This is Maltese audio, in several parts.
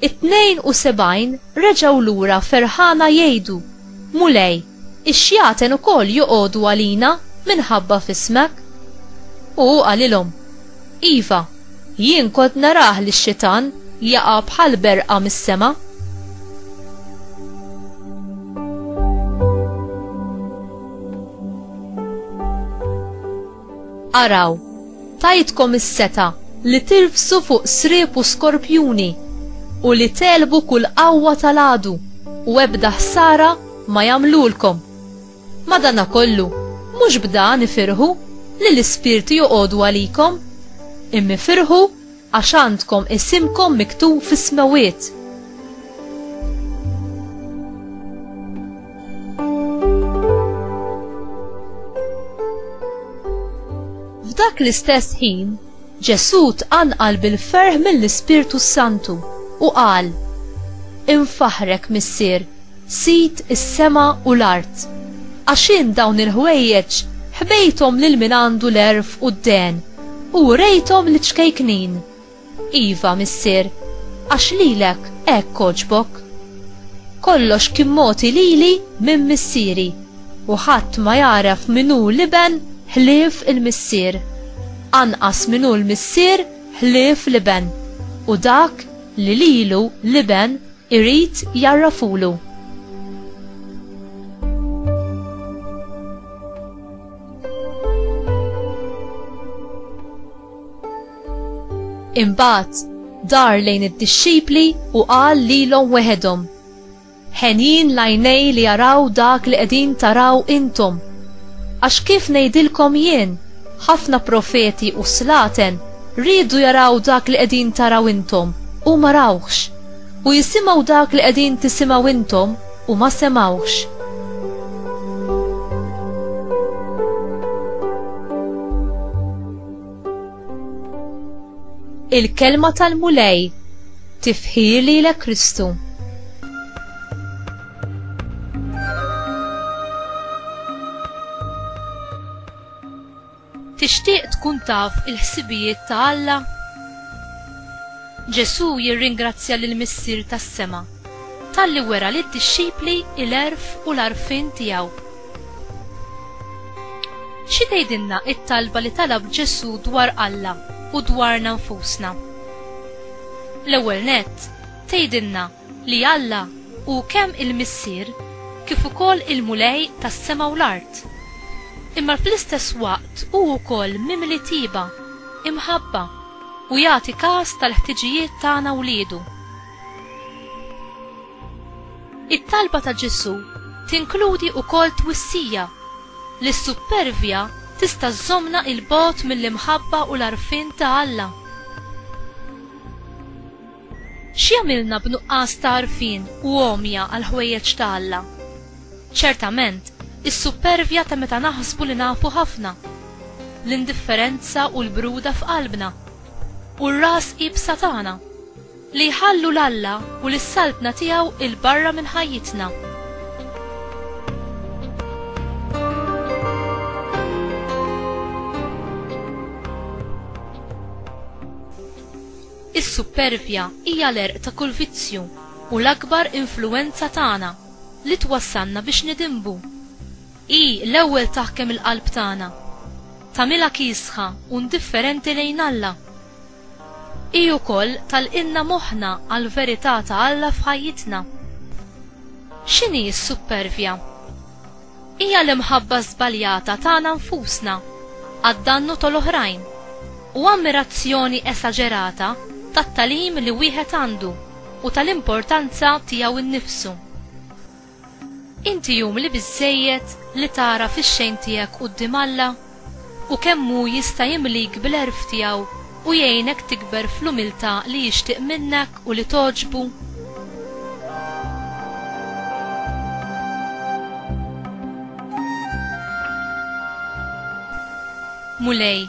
It-72 reġgħu lura ferħana jgħidu, Mulej, ix-xjaten ukoll joqogħdu għalina minħabba f'ismek. U hu qalilhom, Iva, jien kont narah lix-xitan jaqa' bħal berqa mis-sema. Araw, tajtkom is-seta li tirbsu fuq sriep u skorpjuni u li telbu kull qawwa tal-għadu u ebda ħsara ma jagħmlulkom. Madanakollu, mhux b'dan ifirħu li l-ispirti joqogħdu għalikom? Imma ifirħu Għax għandkom isimkom miktub fis-smewwiet. F'dak l-istess ħin, Ġesù tqanqal bil-ferħ mill-Ispirtu Santu u qal, Infaħrek, Missier, sid is-sema u l-art, għax int dawn il-ħwejjeġ ħbejthom lil min għandu l-erf u d-den U rejthom l-iċkejknin. Iva, missier, għax lilek hekk għoġbok. Kollox kien mogħti lili minn missieri, u ħadd ma jagħref min hu l-iben ħlief il-missier, anqas min hu l-missier ħlief l-iben, u dak li lilu l-iben irid jgħarrafulu. Imbagħad dar lejn id-dixxipli u qal lilhom weħedhom. Ħenjin lajnej li jaraw dak li qegħdin taraw intom. Għax kif ngħidilkom jien, ħafna profeti u slaten riedu jaraw dak li qegħdin taraw intom u ma rawhx, u jisimgħu dak li qegħdin tisimgħu intom u ma semgħuhx. Il-kelma tal-Mulej tifħir lilek Kristu. Tixtieq tkun taf il-ħsibijiet ta' Alla? Ġesù jirringrazzja lill-Missier tas-sema talli wera lid-dixxipli l-għerf u l-għarfien tiegħu. Xi tgħidilna t-talba li talab Ġesù dwar Alla u dwarna nfusna? L-ewwel nett, tgħidilna li Alla hu kemm il-Missier kif ukoll il-Mulej tas-sema u l-art, imma fl-istess waqt hu wkoll mimli tiba, imħabba, u jagħti kas tal-ħtiġijiet tagħna wliedu. It-talba ta' Ġesù tinkludi wkoll twissija li s-suppervja tista' żżommna 'il bogħod mill-imħabba u l-għarfien ta' Alla. X'jagħmilna b'nuqqas ta' għarfien u għomja għall-ħwejjeġ ta' Alla? Ċertament, is-suppervja ta' meta naħsbu li nafu ħafna, l-indifferenza u l-bruda f'qalbna, u r-ras iebsa tagħna, li jħallu 'l Alla u lis-Saltna tiegħu 'il barra minn ħajjitna. Is-suppervja hija l-għerq ta' kull vizzju u l-akbar influwenza tagħna li twassalna biex nidinbu. Hi l-ewwel taħkem il-qalb tagħna, tagħmilha kiesħa u ndifferenti lejn Alla. Hi wkoll tagħlqilna moħħna għall-verità ta' Alla f'ħajjitna. X'inhi s-suppervja? Hija l-imħabba żbaljata tagħna nfusna għad-dannu tal-oħrajn u ammirazzjoni esaġerata tat-tagħlim li wieħed għandu u tal-importanza tiegħu nnifsu. Inti umli biżżejjed li tagħraf ix-xejn tiegħek quddiem Alla? u kemm hu jista' jimlik bil-għerf tiegħu u jgħinek tikber fl-umiltà li jixtieq minnek u li togħġbu? Mulej,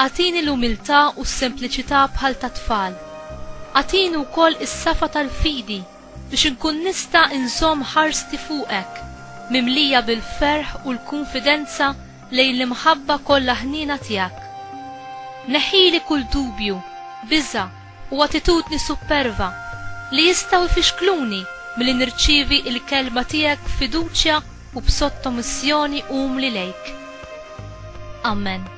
agħtini l-umiltà u s-sempliċità bħal tat-tfal. Agħtini wkoll is-safa tal-fidi. biex inkun nista' nżomm ħarsti fuqek mimlija bil-ferħ u l-kunfidenza lejn l-imħabba kollha ħniena tiegħek. Neħħili kull dubju, biża', u attitudni supperva li jistgħu jfixkluni milli nirċievi l-Kelma tiegħek b'fiduċja u b'sottomissjoni umli lejk. Amen.